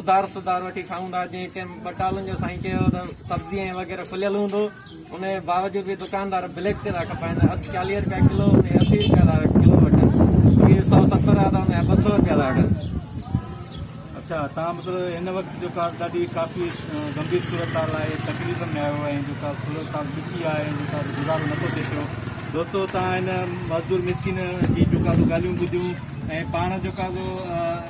ادھار سدھار وٺي کائون ٿا جنهن ٽيم ٻٽالن جو سائين چيو ته سبزي ۽ وغيره کليل هوندو ان جي باوجود به دڪاندار بليڪ تي ٿا کپائن اسي چاليهه رپيا ڪلو ان جي اسي رپيا ٿا ڪلو وٺن اهي سؤ ستر آ ته ان جا ٻه سؤ رپيا ٿا وٺن اچھا تان مطلب هن وقت جو ڪا ڏاڍي ڪافي گنڀير صورتحال آهي تڪليفن ۾ آيو آهي جو ڪا صورتحال ڏکي آهي جو ڪا گذارو نٿو ٿي پيو دوستو تان هن مزدور مسڪين جي جو ڪا ڳالهيون ٻڌيون ۽ پاڻ جو ڪا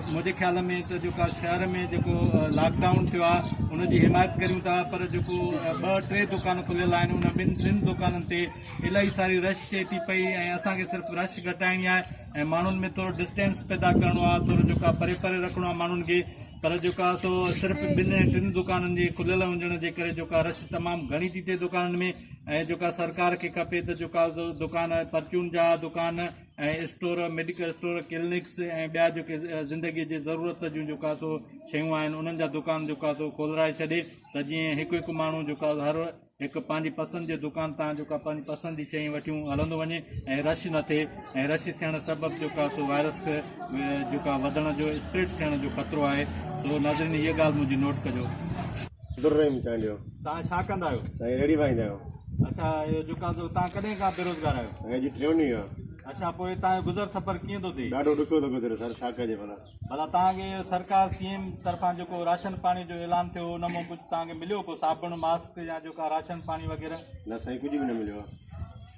منهنجي خيال ۾ ته جيڪو شهر ۾ جيڪو لاڪ ڊائون ٿيو آهي ان جي حمايت ڪريون ٿا پر جيڪو ٻه ٽي دڪان کليل آهن ان ٻن ٽن دڪانن تي الاهي ساري رش ٿئي ٿي پئي ۽ اسان کي صرف رش گهٽائڻي آهي ۽ ماڻهن ۾ ٿورو ڊسٽينس پيدا ڪرڻو آهي ٿورو جيڪا پري پري رکڻو آهي ماڻهن کي پر جيڪا سو صرف ٻن ۽ ٽن دڪانن جي کليل هجڻ جي ڪري جيڪا رش تمام گهڻي ٿي ٿئي دڪانن ۾ ۽ جيڪا سرڪار کي کپي ته جيڪا دڪان پرچون جا دڪان ۽ اسٽور، ميڊيڪل اسٽور، ڪلنڪس ۽ ٻيا جيڪي زندگيء جي ضرورت جون جيڪا سو شيون آهن انهن جا دڪان جيڪا سو کولرائي ڇڏي ته جيئن هڪ هڪ ماڻهو جيڪا هر هڪ پنهنجي پسند جي دڪان تان جيڪا پنهنجي پسند جي شيون وٺيون هلندو وڃي ۽ رش نه ٿئي ۽ رش ٿيڻ سبب جيڪا سو وائرس جيڪا وڌڻ جو اسپريڊ ٿيڻ جو خطرو آهي سو ناظرين هيء ڳالهه منهنجي نوٽ ڪجو در رحيم چانڊيو تان ڇا ڪندا آهيو سائين ريڙهي وائيندا آهيون اڇا اهو جيڪا جو تان ڪڏهن کان بيروزگار آهيو سائين اڄ ٽيون ڏينهن آ اڇا پوء تان جو گذر سفر ڪيئن ٿو ٿئي ڏاڍو ڏکيو ٿو گذري سر ڇا ڪجي ڀلا ڀلا تان کي سرڪار سي ايم طرفان جيڪو راشن پاڻي جو اعلان ٿيو ان مون ڪجهه تان کي مليو ڪو صابڻ ماسڪ يا جيڪا راشن پاڻي وغيره نه سائين ڪجهه به نه مليو آ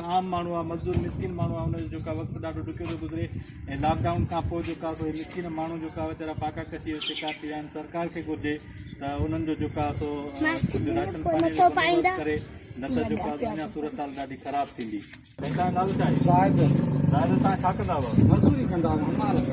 عام ماڻهو آ مزدور مسڪين ماڻهو آ ان جو وقت ڏاڍو ڏکيو ٿو گذري ۽ لاڪ ڊائون کان پوء جو ڪا سو مسڪين ماڻهو جو ڪا ويچارا پاڪا ڪشي جو شڪار ٿي ويا آهن سرڪار کي گهرجي ته انهن جو جو ڪا سو راشن پاڻي جو بندوبست ڪري نه ته جو ڪا اڃا صورتحال ڏاڍي خراب ٿيندي تنهن نالو ڇا آهي زاهد زاهد تان ڇا ڪندا هئا مزدوري ڪندا هئا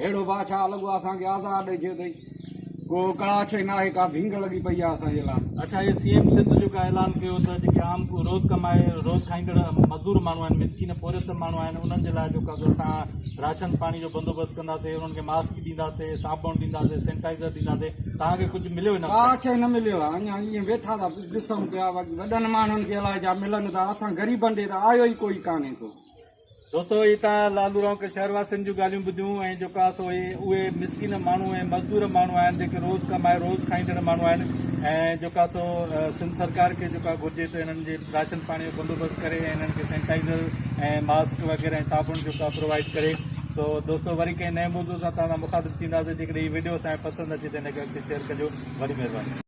ههڙو بادشاهه لڳو اسان کي آزار ڏئي ڇڏيو اٿئي ڪو ڪاش ئي ناهي ڪا ڀينگ لڳي پئي آهي اسان جي لاء. اڇا هي سي ايم سنڌ جو ڪا اعلان ڪيو ته جيڪي عام ڪو روز ڪمائي روز کائيندڙ مزدور ماڻهو آهن مسڪين پورهيت ماڻهو آهن انهن جي لاء جو ڪا اسان راشن پاڻي جو بندوبست ڪنداسي انهن کي ماسڪ ڏينداسي صابڻ ڏينداسي سينٽائزر ڏينداسي توهان کي ڪجهه مليو ان ڪا شيء نه مليو آهي اڃا ائين ويٺا ٿا ڏسون پيا وڏن ماڻهن کي الائي جا ملن ٿا اسان غريبن ڏي ته آيو ئي ڪوئي ڪانهي ڪو. دوستو هي تان لالو رونق شهر واسين جون ڳالهيون ٻڌيون ۽ جوڪا سو هي اهي مسڪين ماڻهو ۽ مزدور ماڻهو آهن جيڪي روز ڪمائي روز کائيندڙ ماڻهو آهن ۽ جوڪا سو سنڌ سرڪار کي جوڪا گهرجي ته انهن جي راشن پاڻي جو بندوبست ڪري ۽ انهن کي سينيٽائزر ۽ ماسڪ وغيره ۽ صابڻ جوڪا پرووائيڊ ڪري سو دوستو وري ڪنهن نئين موضوع سان توهان سان مخاطب ٿينداسين جيڪڏهن هي ويڊيو اسان کي پسند اچي ته هن کي اڳتي شيئر ڪجو وڏي مهرباني